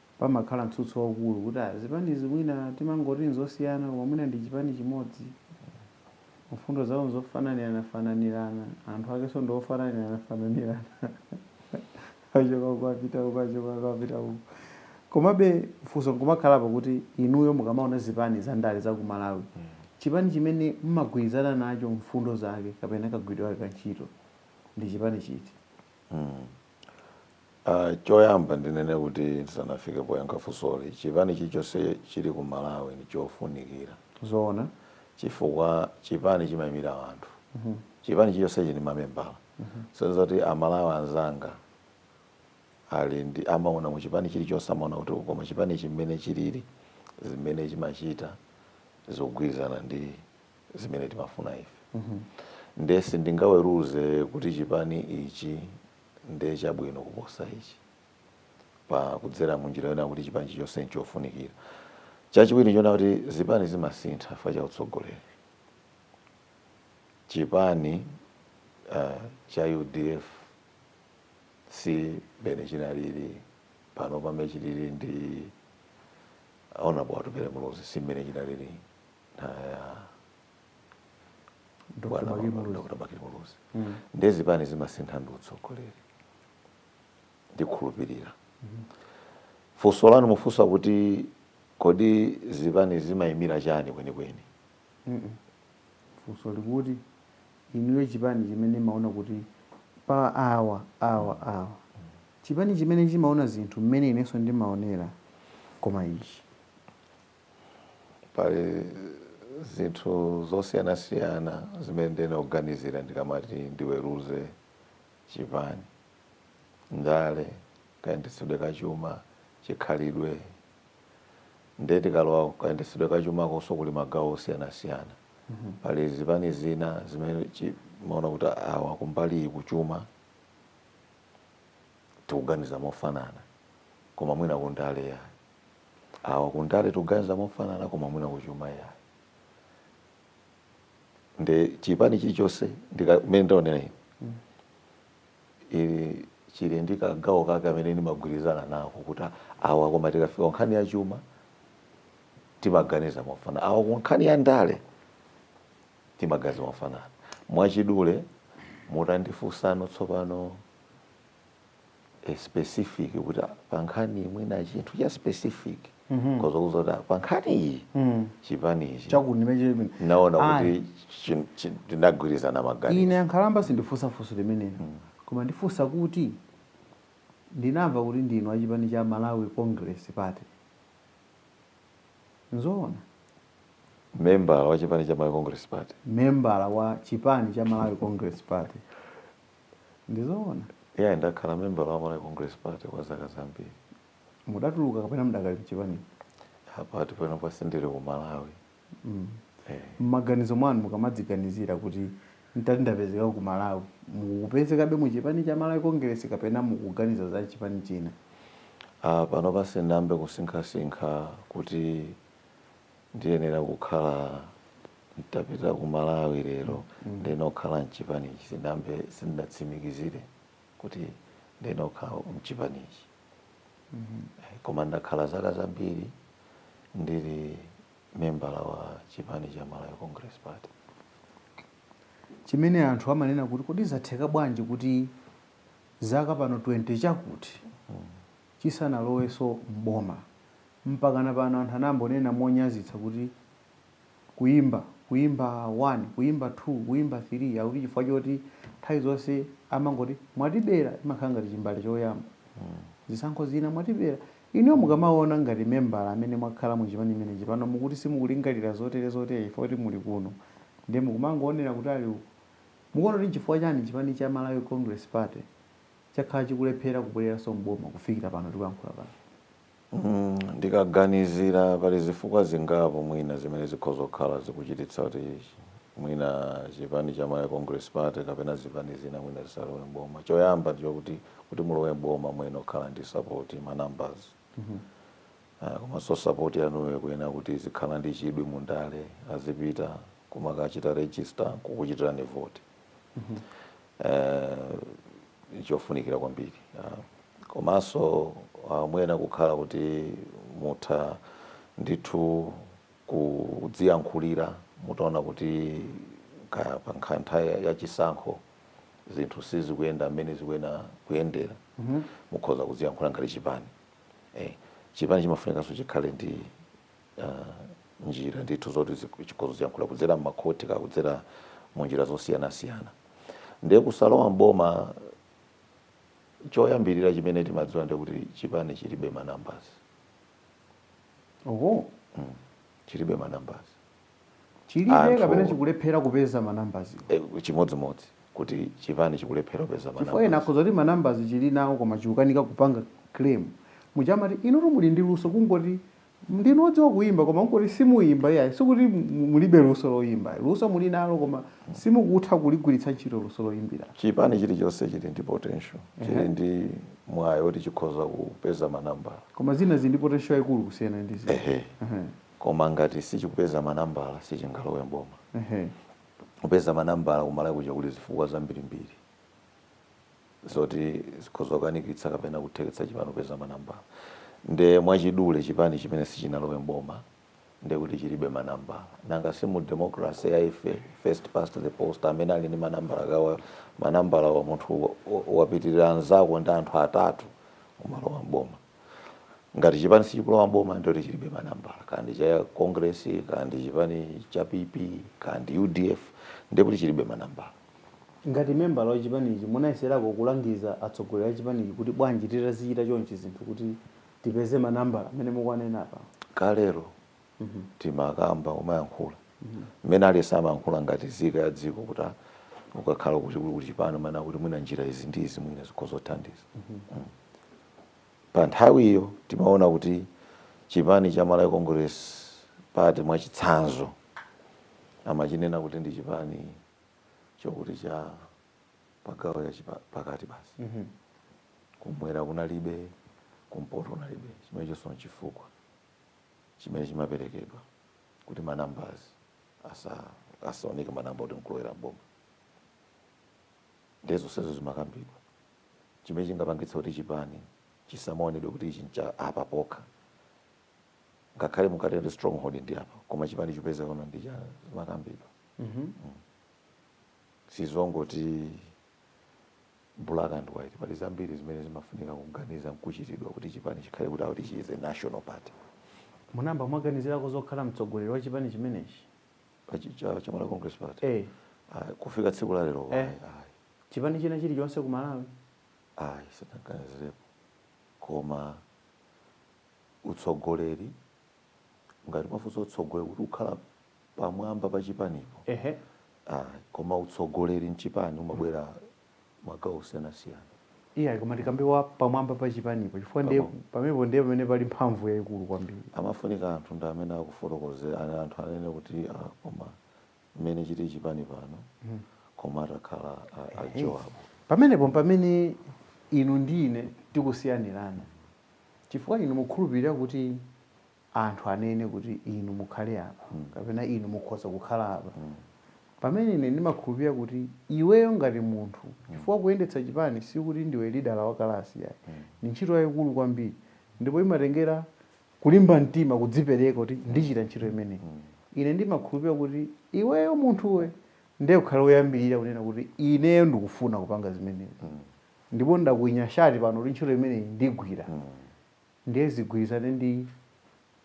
Speaker 2: pamakhala mtsutso waukulu kuti ah, zipanizi mwina timangoti nzosiyana koma mwina ndi chipani chimodzi mfundo zawo nzofananiranafananirana anthu akenso ndi ofananiranafananirana achoka uku apita uku achoka uku apita uku komabe funso nkumakhalapo kuti inuyo mukamaona zipani za ndale za ku malawi chipani chimene mmagwirizana nacho mfundo zake kapena kagwiridwe kake ka ntchito ndi chipani chiti
Speaker 1: Ah choyamba ndinene kuti ndisanafike poyankha funsoli chipani chilichonse chili ku Malawi ndichofunikira zoona
Speaker 2: chifukwa
Speaker 1: chipani chimayimira anthu chipani chilichonse chili ndi mamembala so zoti a Malawi anzanga ali ndi amaona mu chipani chilichonse amaona kuti oh koma chipani ichi mmene chilili zimene chimachita zikugwirizana ndi zimene timafuna ife nde sindingaweruze kuti chipani ichi ndi chabwino kuposa ichi pa kudzera mu njira yonena kuti chipani chilichonse nchofunikira. Chachiwiri nchonena kuti zipani zimasintha chifukwa cha utsogoleri. Chipani uh, cha udf si mmene chinalili pano pamene chilili ndi honorable atupele muluzi si mmene chinalili nthawi ya dr bakili muluzi ndiye zipani zimasintha ndi utsogoleri ndikhulupirira funso lanu mufunsa kuti kodi zipani zimayimira chani kwenikweni
Speaker 2: funso likuti inuyo chipani chimene maona kuti pa awa awa awa chipani chimene chimaona zinthu mmene inenso ndimaonera koma ichi
Speaker 1: Pali zinthu zosiyanasiyana zimene ndiyenera kuganizira ndikamati ndiweruze chipani, ndale, kayendetsedwe ka chuma, chikhalidwe. Ndiye tikalowa kukayendetsedwe ka chumakonso kuli magawo osiyanasiyana. Pali zipani zina zimene mumaona kuti awa kumbali iyi kuchuma tikuganiza mofanana, koma mwina kundale yayi. awa kundale tuganiza mofanana koma mwina kuchuma yayi nde chipani chilichonse mene ndaonera ine chili chili ndi kagawo kake amene ndimagwirizana nako kuti awa koma tikafika ku nkhani ya chuma timaganiza mofanana awa ku nkhani ya ndale timaganiza mofanana mwachidule mutandifunsano tsopano a specific kuti ah, pa nkhani mwina chinthu cha specific nkoza kuuzani kuti ah, pa nkhani iyi chipani ichi chakuti ndi chimene naona Ah, kuti chin- chin- tinagwirizana maganizo ine a Nkhalamba sindifunsa
Speaker 2: funso limenelo koma ndifunsa kuti ndinamva kuti ndinu achipani cha malawi congress party
Speaker 1: nzoona membala wa chipani cha malawi congress party membala wa
Speaker 2: chipani cha malawi congress party Ndizoona.
Speaker 1: Yeah, ndakhala membala wa Malawi Congress Party kwa zaka zambiri.
Speaker 2: Mudatuluka kapena mudakali mchipani? Apa
Speaker 1: panopa sindili ku Malawi. Mm. Eh. Mmaganizo
Speaker 2: mwanu mukamadziganizira kuti ntati ndapezeka ku Malawi, mukupezekabe mu chipani cha Malawi Congress kapena mukuganiza za chipani china? Uh,
Speaker 1: panopa sinayambe kusinkhasinkha kuti ndiyenera kukhala nditapita ku Malawi lero ndiyenera kukhala mchipanichi sinayambe sindatsimikizire kuti ndiyenera kukhala mchipanichi Eh, koma ndakhala zaka zambiri ndili membala wa chipani cha Malawi Congress Party chimene
Speaker 2: anthu amanena kuti kodi zatheka bwanji kuti zaka pano 20 chakuti chisanalowenso m'boma. Mpakana pano anthu amangonena monyazitsa kuti kuyimba, kuyimba 1, kuyimba 2, kuyimba 3 akuti chifukwa choti nthawi zonse amangoti mwatibera chimakhala ngati chimbale choyamba. Zisankho zina mwatibera. Inuyo mukamawona ngati membala amene mwakhala mu chipani chimenechi pano mukuti simukulingalira zotere zotere chifukwa choti muli kuno ndiye mukumangowonera kutali uko. Mukuona kuti nchifukwa chani chipani cha Malawi Congress Party chakhala chikulephera kubwereranso m'boma kufikira pano tikuyankhula pano?
Speaker 1: Ndikaganizira pali zifukwa zingapo mwina zimene zikhoza kukhala zikuchititsa kuti mwina chipani cha Malawi Congress Party kapena zipani zina mwina zisalowe m'boma. Choyamba ndi chokuti, kuti mulowe m'boma muyenera kukhala ndi sapoti, ma numbers. Komanso sapoti yanuyo ikuyenera kuti izikhala ndi chidwi mu ndale, azipita kumakachita register n'kukuchitirani voti. eh, chofunikira kwambiri ah. komanso ah, muyenera kukhala kuti mutha ndithu kudziyankhulira mutaona kuti kaya pa nkha- nthawi ya- ya chisankho zinthu sizikuyenda mmene zikuyenera kuyendera mukhoza kudziyankhulira ngati chipani eh, chipani chimafunikanso chikhale ndi uh, njira ndithu zoti chikhoza kudziyankhulira kudzera mmakhoti kaya kudzera mu njira zosiyanasiyana ndiye kusalowa mboma choyambirira chimene timadziwa nde kuti chipani chilibe manambasi oho mm. chilibe manambasi
Speaker 2: chilibe kapena chikulephera kupeza manambasi eh,
Speaker 1: chimodzimodzi kuti chipani chikulephera kupeza manambasi ena akhoza kuti manambasi
Speaker 2: chili nawo koma chikukanika kupanga claim muja mumati inutu muli ndi luso kungoti Ndinu odziwa kuimba koma kungoti simuimba iyayi sikuti mulibe luso loimba luso mulinalo koma simukutha kuligwiritsa ntchito luso loimbiralo. Chipani chilichonse
Speaker 1: chili ndi potential chili Ehe. ndi mwayi oti chikhoza kupeza ma nambala. Koma zina zili ndi
Speaker 2: potential yaikulu kusiyana ndi zina. Ehe. Ehe.
Speaker 1: Koma ngati sichikupeza ma nambala sichingalowe m'boma. Ehe. Kupeza ma nambala ku Malawi kuja kuli zifukwa zambirimbiri. zoti zikhoza kukanikitsa kapena kutheketsa chipani kupeza manambala nde mwachidule chipani chimene sichinalowe m'boma ndekuti chilibe manambala nanga si mu democracy ya ife first past the post amene ali ndi manambala kaya manambala wa munthu wa- wa- wapitirira anzako ndi anthu atatu umalowa m'boma ngati chipani sichikulowa m'boma ndekuti chilibe manambala kaya ndi cha congress kaya ndi chipani cha pp kaya ndi udf ndekuti chilibe manambala Ngati
Speaker 2: membala wa chipanichi munayeserako kulangiza atsogoleri a chipanichi kuti bwanji titazichita chonchi zinthu kuti tipeze ma nambala amene mukuwanena apawa? Kalero
Speaker 1: timakamba kumayankhula mmene aliyense amayankhula ngati nzika ya dziko kuti ah ukakhala kuti kuli kuli chipani umanena kuti mwina njira izi ndi izi mwina zikhoza kuthandiza. Pa nthawiyo timaona kuti chipani cha Malawi Congress Party mwachitsanzo amachinena kuti ndi chipani chokuti cha chigawo cha chipa- pakati basi Mhm. kumwera kunalibe kumpoto kunalibe chimene chonso nchifukwa chimene chimaperekedwa kuti ma numbers asa- asaoneke ma number oti nkulowera mboma ndiye zonsezo zimakambidwa chimene chingapangitsa kuti chipani chisamaonedwe kuti ichi ncha apa pokha ngakhale mukuti ndi stronghold ndi apa koma chipani chipezeka konko ndi cha zimakambidwa mm -hmm. mm. sizongoti black and white pali zambiri zimene zimafunika kuganiza nkuchitidwa kuti chipani chikhale kuti akuti chi is a national party
Speaker 2: munamba mwaganizirako zokhala mtsogoleri wa chipani chimenechi
Speaker 1: cha Malawi Congress Party eh ah, kufika tsiku la lero eh. chipani
Speaker 2: china chili chonse ku Malawi ayi
Speaker 1: sindinaganizirepo koma utsogoleri ngati mukufunsa utsogoleri kuti ukhale pamwamba pa chipanipo ehe ayi koma utsogoleri mchipani umabwera magawo osiyanasiyana iya koma tikambe
Speaker 2: wa pamwamba pa chipanipo chifukwa ndiye Pamwamba. pamenepo ndiye pamene pali mphamvu yayikulu kwambiri amafunika anthu
Speaker 1: ndi amene akufotokozera anthu anene kuti ah, koma mmene chili chipani pano koma atakhala a- a jowabu pamenepo mpamene
Speaker 2: inu ndi ine tikusiyanirana Chifukwa inu mukhulupirira kuti anthu anene kuti inu mukhale apa, mm. kapena inu mukhoza kukhala apa, mm. pamene ine ndimakhulupirira kuti iweyo ngati munthu, mm. chifukwa mm. kuyendetsa chipani sikuti ndiwe leader wa kalasi yayi, mm. ni ntchito yayikulu kwambiri ndipo imatengera kulimba mtima, kudzipereka kuti mm. ndichita ntchito imeneyi. Mm. Ine ndimakhulupirira kuti iweyo munthuwe ndiye ukhale woyambirira kunena kuti ineyo ndikufuna kupanga zimenezi. Mm. ndipo ndakwinya shati pano kuti ntchito imeneyi ndigwira ndiye zigwirizane ndi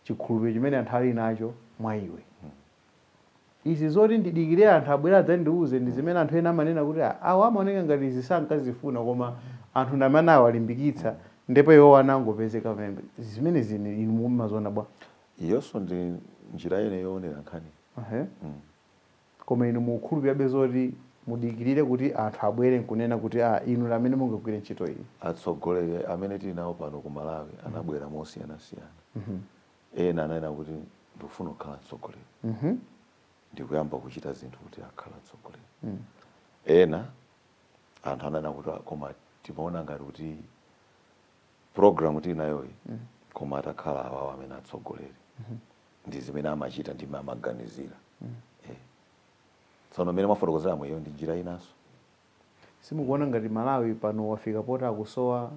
Speaker 2: chikhulupiriro chimene anthu ali nacho mwa iwe izi zoti ndidikire anthu abwera adzandiuze ndi zimene anthu ena amanena kuti "Ah, awa amaoneka ngati izi sankazifuna koma anthu ndamene awalimbikitsa ndipo iwo anangopezeka pamene zimene zine inu mumaziona bwa iyonso ndi
Speaker 1: njira ina yoonera nkhani Ehe.
Speaker 2: Koma inu mukukhulupirirabe zoti mudikirire kuti anthu abwere nkunena kuti aah inu ndi amene mungagwire ntchito iyi? Atsogoleri amene
Speaker 1: tili nawo pano ku Malawi anabwera mosiyanasiyana. Ena ananena kuti ndikufuna kukhala mtsogoleri ndi kuyamba kuchita zinthu kuti akhale mtsogoleri. Ena anthu ananena kuti aah koma timaona ngati kuti program tili nayoyi koma atakhala awawa amene atsogoleri. ndi zimene amachita ndi mmene amaganizira Eh. tsono mmene mwafotokozeramu iyo ndi njira
Speaker 2: inanso simukuona ngati malawi pano wafika poti akusowa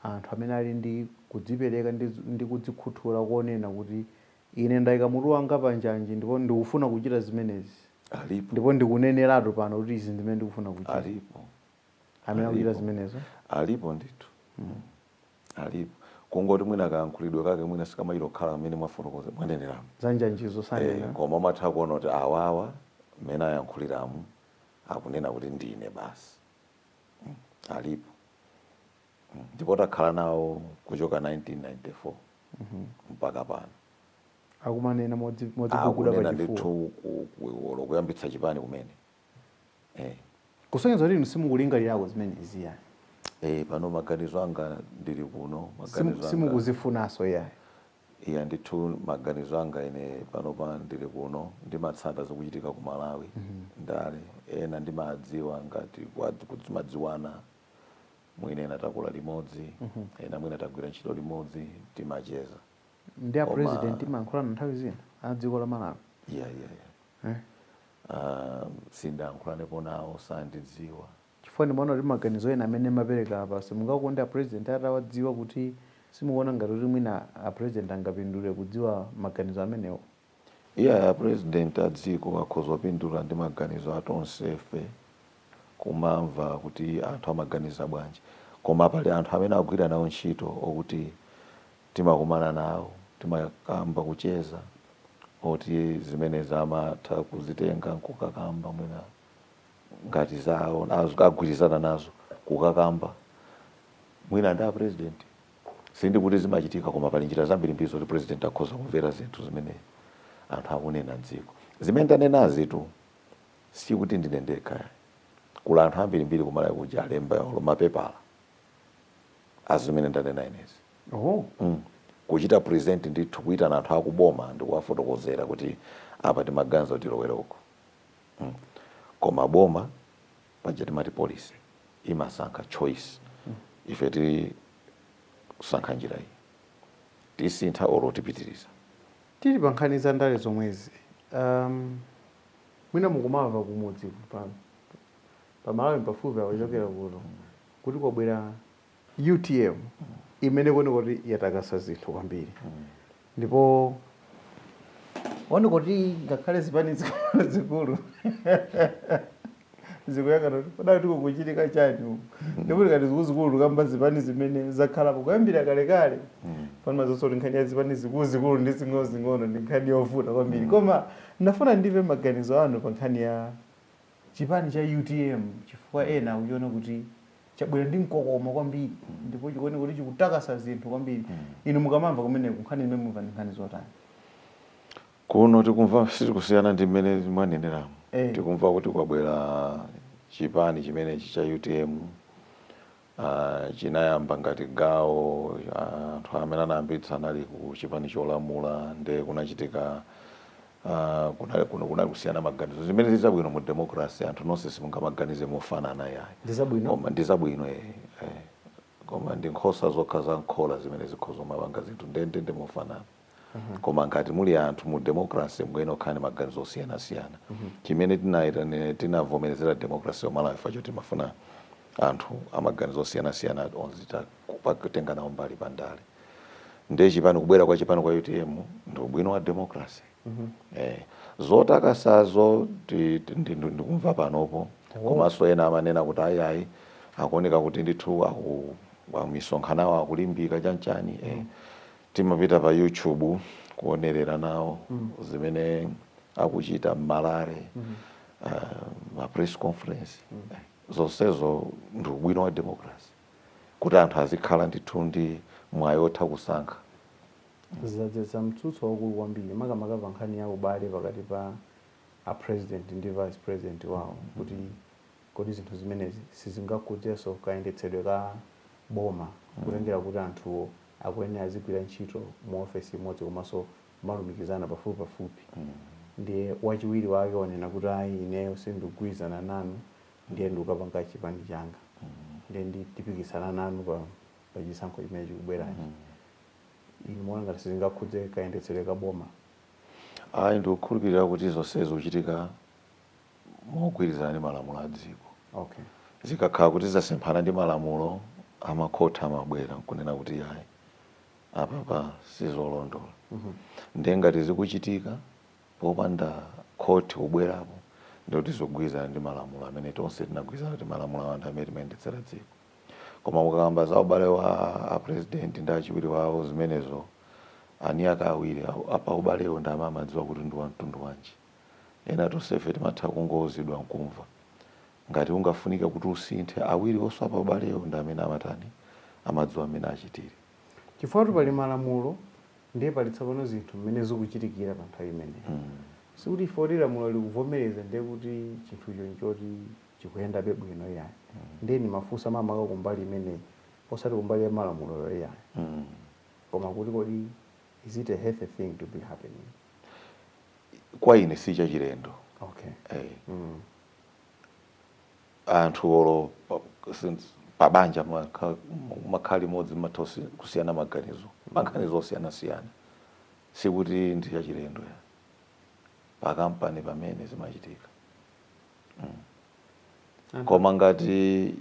Speaker 2: anthu amene ali ndi kudzipereka ndi, ndi kudzikhuthula kunena kuti ine ndayika mutu wanga pa njanji ndipo ndikufuna kuchita zimenezi alipo ndipo ndikuneneratu pano kuti izi ndi zimene ndikufuna kuchita alipo
Speaker 1: amene akuchita
Speaker 2: alipo. zimenezo alipo ndithu
Speaker 1: alipo kungoti mwina kayankhulidwe kake mwina sikamachita kukhala mmene mwafotokoza mwaneneramu za njanjizo Eh,
Speaker 2: sanena koma umatha kuona kuti
Speaker 1: awawa mmene ayankhuliramu akunena kuti ndine basi Mm, alipo Mm, ndipo takhala nawo kuchoka 1994 mpaka pano akumanena
Speaker 2: modzi- modziguguda akunena pachifuwa ndithu
Speaker 1: ku- ku- olo kuyambitsa chipani kumene eh.
Speaker 2: kusonyeza kuti inu simukulingalirako zimenezi iyayi eh,
Speaker 1: pano maganizo anga ndili kuno
Speaker 2: simukuzifunanso yayi iyayi ndithu
Speaker 1: maganizo anga ine panopa ndili kuno ndimatsata zochitika ku malawi mm -hmm. andale ena ndimawadziwa ngati kuti timadziwana mwina ena takula limodzi mm -hmm. ena mwina tagwira ntchito limodzi timacheza ndi a
Speaker 2: president mumayankhulana nthawi zina a dziko la malawi yeah, yeah, yeah. Eh?
Speaker 1: Aaa sindinayankhulanepo nawo sandidziwa chifukwa ndimaona
Speaker 2: kuti maganizo ena amene mumapereka apa simungakonde a president atawadziwa kuti simukuona ngati kuti mwina a president angapindule kudziwa maganizo amenewo? Iyayi
Speaker 1: a president a dziko akhoza kupindula ndi maganizo a tonsefe kumamva kuti anthu amaganiza bwanji koma pali anthu amene akugwira nawo ntchito okuti timakumana nawo timakamba kucheza oti zimenezi amatha kuzitenga nkukakamba mwina ngati zawo az- agwirizana nazo kukakamba mwina ndi apresident sindikuti zimachitika koma pali njira zambirimbiri zoti president akhoza kumvera zinthu zimene anthu akunena mdziko zimene ndanenazitu sikuti ndine ndekha kuli anthu ambirimbiri kumalawi kuja alemba olo mapepala azimene ndanena inezi oh. mm. kuchita present ndithu kuitana anthu akuboma ndikuwafotokozera kuti apa timaganiza kuti tilowere uko mm. koma boma paja timati policy imasankha choice mm. ife tisankha njira iyi tisintha olo tipitiriza tili pa
Speaker 2: nkhani za ndale zomwezi um, mwina mukumamva kumudzi pano pa Malawi mpafupi apa a wochokera kuno kuti kwabwera utm imene kuoneka kuti yatakasa zinthu kwambiri ndipo kuoneka kuti ngakhale zipani zikulu zikulu zikuyang'ana kuti pa ndale kodi kukuchitika chani uku ndipo tikati zikuluzikulu tikamba zipani zimene zakhalapo kuyambira kalekale pano mudziwanso kuti nkhani ya zipani zikuluzikulu ndi zing'onozing'ono ndi nkhani yovuta kwambiri koma ndafuna ndimve maganizo anu pa nkhani ya chipani cha utm chifukwa ena akuchiona kuti chabwera ndi mkokomo kwambiri ndipo chikuoneka kuti chikutakasa zinthu kwambiri inu mukamamva kumeneko nkhani zimene mumva ndi nkhani
Speaker 1: zotani Kuno tikumva sitikusiyana ndi mmene mwaneneramu. Eh. Tikumva kuti kwabwera chipani chimenechi cha UTM Uh, chinayamba ngati gawo anthu uh, amene anayambitsa anali ku chipani cholamula nde kunachitika uh, kunali, kunali kusiyana maganizo zimene ndizabwino mu democracy anthu nonse simungamaganize mofanana yayi koma ndizabwino eh, eh. koma ndi nkhosa zokha za m'khola zimene zikhoza kumapanga zinthu ndendende mofanana koma ngati muli anthu mu democracy mukuyena kukhala ndi maganizo osiyanasiyana chimene tinayitanira tinavomerezera democracy ya multi party nchoti timafuna anthu amaganizo osiyanasiyana onzita kutenga nawo mbali pa ndale ndiye chipani kubwera kwa chipani kwa utm ndi ubwino wa democracy eh, zotakasazo ti- ti- ndi- ndi- ndikumva panopo komanso ena amanena kuti ayayi akuoneka kuti ndithu aku- aku- misonkhano yawo akulimbika chanchani eh. Timapita pa YouTube kuonerera nawo zimene akuchita m'ma rally ma press conference. Zonsezo ndi ubwino wa democracy kuti anthu azikhala ndithu ndi mwayi wotha
Speaker 2: kusankha. Zadzetsa mtsutso waukulu kwambiri makamaka pa nkhani ya ubale pakati pa a President ndi Vice President wawo kuti kodi zinthu zimenezi sizingakhudzenso kayendetsedwe ka boma kutengera kuti anthuwo akuyenera azigwira ntchito mu ofesi imodzi komanso kumalumikizana pafupipafupi ndiye wachiwiri wake wanena kuti ayi ineyo sindikugwirizana nanu ndiye ndikapanga chipani changa ndiye ndi- tipikisana nanu pa pa chisankho chimene chikubwerachi inu muona ngati sizingakhudze kayendetsedwe ka boma ayi
Speaker 1: ndikukhulupirira kuti zonse zikuchitika mogwirizana ndi malamulo a dziko. Okay. Zikakhala kuti zasemphana ndi malamulo makhoti amabwera nkunena kuti yayi apapa sizolondola. Mm -hmm. Ndiye ngati zikuchitika popanda khoti kubwerapo ndikuti zikugwirizana ndi malamulo amene tonse tinagwirizana kuti malamulo awo ndi amene timayendetsera dziko. Koma mukakamba za ubale wa a president ndi achiwiri wawo zimenezo eniake awiri a paubalewo ndi amene amadziwa kuti ndi wa mtundu wanji. Ena tonsefe timatha kungouzidwa n'kumva. Ngati ungafunika kuti usinthe, awiriwo a paubalewo ndi amene amatani, amadziwa mmene achitire. Chifukwatu pali
Speaker 2: malamulo ndiye pali tsopano zinthu mmene zikuchitikira pa nthawi imeneyo. Sikuti chifukwa kuti lamulo likuvomereza ndiye kuti chinthucho n'choti chikuyendabe bwino iyayi. Ndiye ndimafunsa makamaka kumbali imeneyi osati kumbali ya malamuloyo iyayi koma kuti kodi is it a healthy thing to be happening?
Speaker 1: kwa ine si chachilendo okay. hey. Eh. mm. anthu olo pabanja mumakhala limodzi mumatha kusiyana maganizo maganizo osiyanasiyana sikuti ndi chachilendo ayi pakampani pomwe zimachitika mm. koma ngati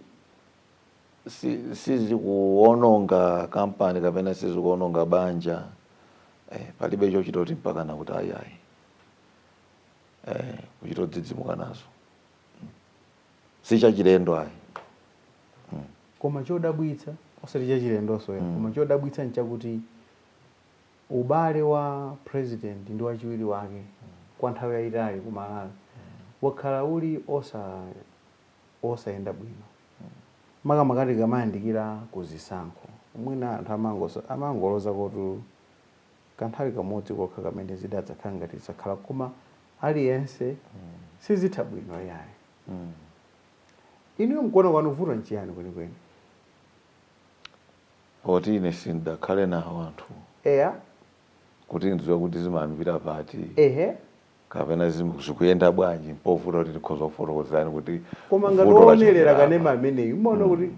Speaker 1: sizikuononga kampani kapena sizikuononga banja eh, palibe chochita kuti mpakana kuti ayayi eh, kuchita kudzidzimuka nazo mm. si chachilendo ayi mm.
Speaker 2: koma chodabwitsa osati chachilendonso mm. koma chodabwitsa nchakuti ubale wa president ndi wachiwiri wake mm. kwa nthawi yayitali ku Malawi mm. wakhala uli osa osayenda bwino makamaka tikamayandikira ku zisankho. Mwina anthu amangoso, amangolozako kuti kanthawi kamodzi kokha kamene zidadzakhala ngati zakhala koma aliyense sizitha bwino iyayi. Inuyo mkuona kwanu vuto nchiyani
Speaker 1: kwenikweni? Poti ine sindidakhale nawo anthu Eya. kuti ndidziwe kuti zimayambikira pati. Ehe. kapena zikuyenda bwanji mpovuta kuti ndikhoza kufotokozerani kuti koma ngati
Speaker 2: owonerera kanema ameneyu umaona
Speaker 1: kuti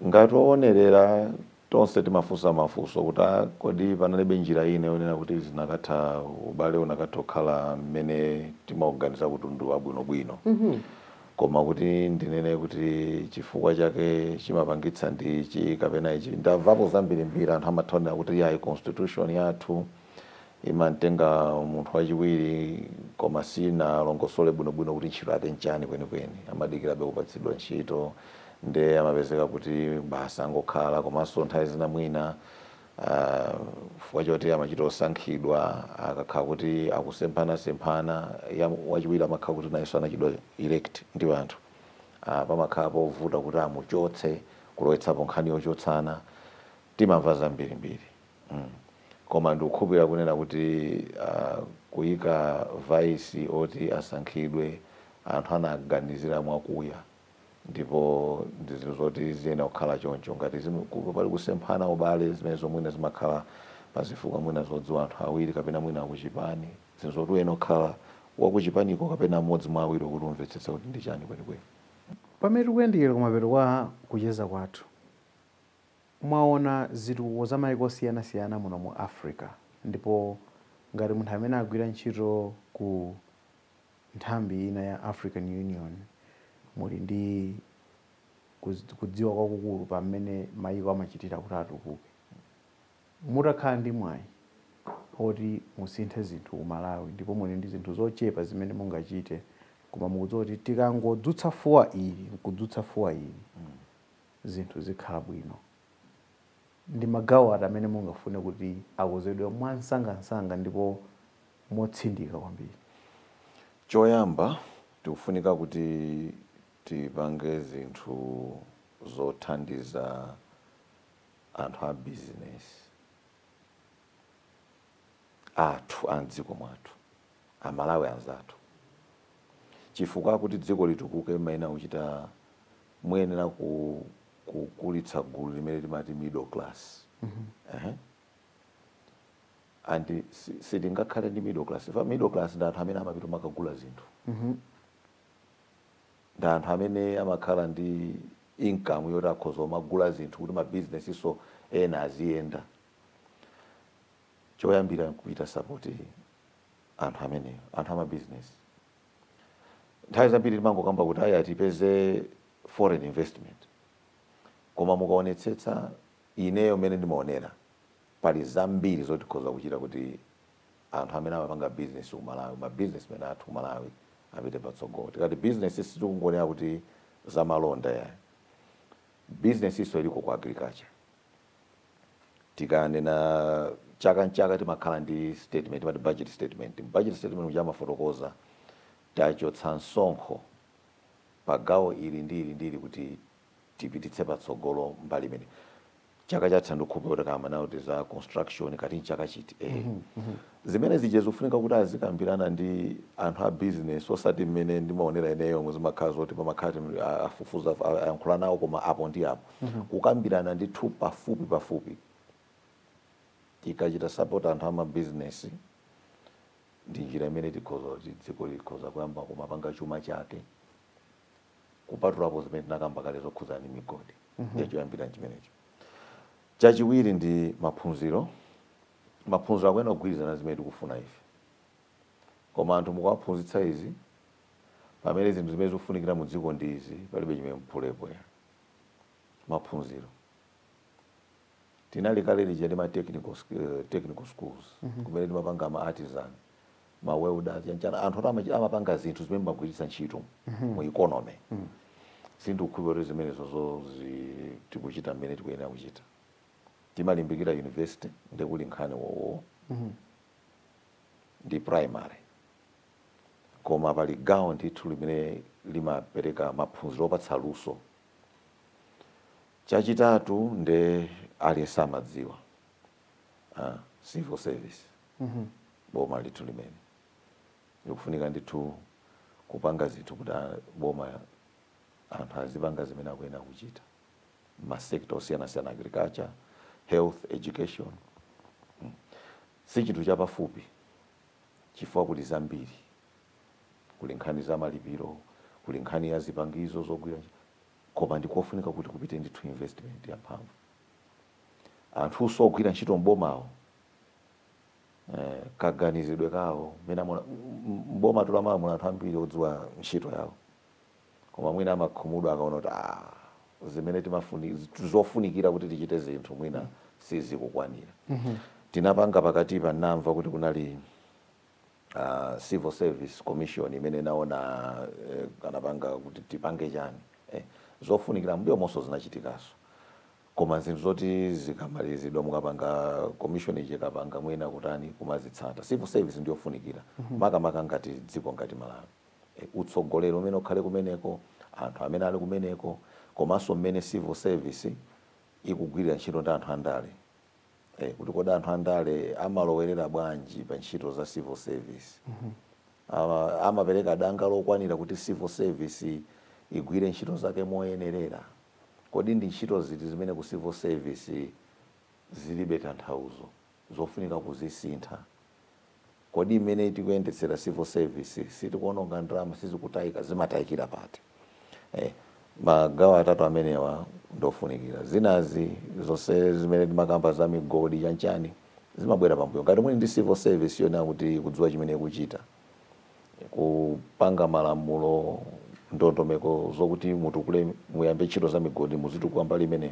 Speaker 1: ngati owonerera tonse timafunsa mafunso kuti "Ah, kodi panalibe njira ine yonena kuti zinakatha ubale unakatha kukhala mmene timauganiza kuti ndi wabwinobwino koma kuti ndinene kuti chifukwa chake chimapangitsa ndi ichi kapena ichi ndamvapo zambirimbiri anthu amatha kunena kuti yayi constitution yathu imatenga munthu wachiwiri koma sinalongosole bwinobwino kuti ntchito yake nchani kwenikweni amadikirabe kupatsidwa ntchito nde amapezeka kuti basi angokhala komanso nthawi zina mwina chifukwa choti amachita osankhidwa akakhala kuti akusemphanasemphana ya wachiwiri amakhala kuti nayenso anachitidwa elect ndi anthu Ah, pamakhala povuta kuti amuchotse kulowetsapo nkhani yochotsana timamva zambirimbiri mm koma ndikukhulupirira kunena kuti uh, kuyika vaisi oti asankhidwe anthu anaganizira mwakuya ndipo ndi zinthu zoti ziyenera kukhala choncho ngati zimu- ku- pali kusemphana ubale zimenezo mwina zimakhala pazifukwa mwina zodziwa anthu awiri kapena mwina akuchipani zinthu zoti uyenera kukhala wakuchipaniko kapena mmodzi mwa awiri kuti umvetsetse kuti ndi chani kwenikweni pamene
Speaker 2: tikuyandikira kumapeto kwa kucheza kwathu Mwaona zitukuko za maiko osiyanasiyana muno mu Africa ndipo ngati munthu amene agwira ntchito ku nthambi ina ya African Union muli ndi kudziwa kwakukulu pa mmene maiko amachitira kuti atukuke. Mutakhala ndi mwayi oti musinthe zinthu ku Malawi ndipo muli ndi zinthu zochepa zimene mungachite koma mukudziwa kuti tikangodzutsa fuwa ili nkudzutsa fuwa ili, zinthu zikhala bwino. Ndi magawo ati amene mungafune kuti akozedwe mwamsangamsanga ndipo motsindika kwambiri?
Speaker 1: Choyamba, tikufunika kuti tipange zinthu zothandiza anthu a bizinesi. athu a m'dziko mwathu, Amalawi anzathu. Chifukwa kuti dziko litukuke mmayenera kuchita, muyenera ku kukulitsa gulu limene timati middle class. Ehe. And si- sitingakhale ndi middle class. Chifukwa middle class ndi anthu amene amapita kumakagula zinthu. Ndi anthu amene amakhala ndi income yoti akhoza kumagula zinthu kuti mabizinesinso ena aziyenda. choyambira nkuchita sapoti anthu amene anthu amabizinesi nthawi zambiri timangokamba kuti ayi tipeze foreign investment koma mukaonetsetsa ineyo mmene ndimaonera pali zambiri zoti tikhoza kuchita kuti anthu amene amapanga bizinesi ku malawi mabizinesmen athu ku malawi apite patsogolo tikati bizinesi sitikungonena kuti zamalonda yayi bizinesi inso iliko ku agriculture Tikanena chaka nchaka timakhala ndi statement timati budget statement. Mu budget statement muja amafotokoza tachotsa msonkho pa gawo ili ndi ili ndi ili kuti tipititse patsogolo mbali imeneyi. Chaka chatha ndikukhulupirira kuti takamba nawo kuti za construction kati nchaka chiti eh. Zimene zija zikufunika kuti azikambirana ndi anthu a business osati mmene ndimaonera ineyo zimakhala zoti pamakhala afufuza ayankhula nawo koma apo ndi apo. kukambirana ndithu pafupi pafupi tikachita support anthu ama business ndi njira imene tikhoza kuti dziko likhoza kuyamba kumapanga chuma chake kupatulapo zimene tinakamba kale zokhudza ndi migodi ndiye choyambira chimenecho chachiwiri ndi maphunziro maphunziro akuyenera kugwirizana zimene tikufuna ife koma anthu mukuwaphunzitsa izi pamene zinthu zimene zikufunikira mu dziko ndi izi palibe chimene mphulepo eya maphunziro tinali kale lija ndi ma technical, sk- eh, technical schools kumene timapanga ma artisan ma welders chanichani anthu oti amachi- amapanga zinthu zimene mumagwiritsa ntchito mu economy sindikukhulupirira kuti zimenezozo zi- tikuchita mmene tikuyenera kuchita timalimbikira university nde kuli nkhani wowowo ndi primary koma pali gawo ndithu limene limapereka maphunziro opatsa luso. Chachitatu nde aliyense amadziwa ah, civil service boma ndithu limene likufunika ndithu kupanga zinthu kuti a- boma anthu azipanga zimene akuyenera kuchita masekta osiyanasiyana agriculture health education si chinthu chapafupi chifukwa kuli zambiri. Kuli nkhani za malipiro, kuli nkhani ya zipangizo zogwira ntchito koma ndi kofunika kuti kupite ndithu investment yamphamvu. Anthunso ogwira ntchito m'bomawo eh, kaganizidwe kawo mmene amaona m- m- m'bomatu la Malawi muna anthu ambiri odziwa ntchito yawo koma mwina amakhumudwa akaona kuti ah, zimene timafuna zofunikira kuti tichite zinthu mwina sizikukwanira tinapanga pakati apa ndinamva kuti kunali uh, civil service commission imene naona eh, anapanga kuti tipange chani eh, zofunikira m'mbuyomonso zinachitikaso koma zinthu zoti zikamalizidwa mukapanga commission ija mukapanga mwina kutani kumazitsata civil service ndiyofunikira makamaka ngati dziko ngati Malawi utsogoleri umene ukhale kumeneko, anthu amene ali kumeneko komanso mmene civil service ikugwirira ntchito ndi anthu andale. Kuti kodi anthu andale amalowerera bwanji pa ntchito za civil service. Amapereka danga lokwanira kuti civil service igwire ntchito zake moyenerera. Kodi ndi ntchito ziti zimene ku civil service zilibe tanthauzo. zofunika kuzisintha. Kodi mmene tikuyendetsera civil service sitikuononga ndalama sizikutayika zimatayikira pati? Eh, magawo atatu amenewa ndofunikira zinazi zonse zimene timakamba za migodi chanchani zimabwera pambuyo ngati muli ndi civil service yonena kuti ikudziwa chimene ikuchita kupanga malamulo ndondomeko zokuti mutukule muyambe ntchito za migodi muzitukula mbali imeneyo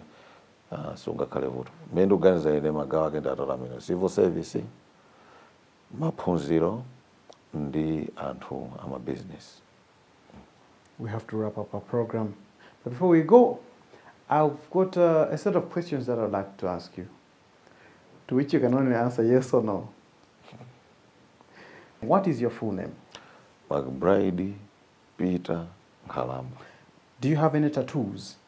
Speaker 1: Ah, sungakhale vuto mmene ndikuganiza ine magawo ake ndatala amene civil service maphunziro ndi anthu amabizinesi
Speaker 2: we have to wrap up our program. But before we go, I've got uh, a set of questions that I'd like to ask you, to which you can only answer yes or no. What is your full name? mcbride
Speaker 1: peter nkhalamba Do you have
Speaker 2: any tattoos?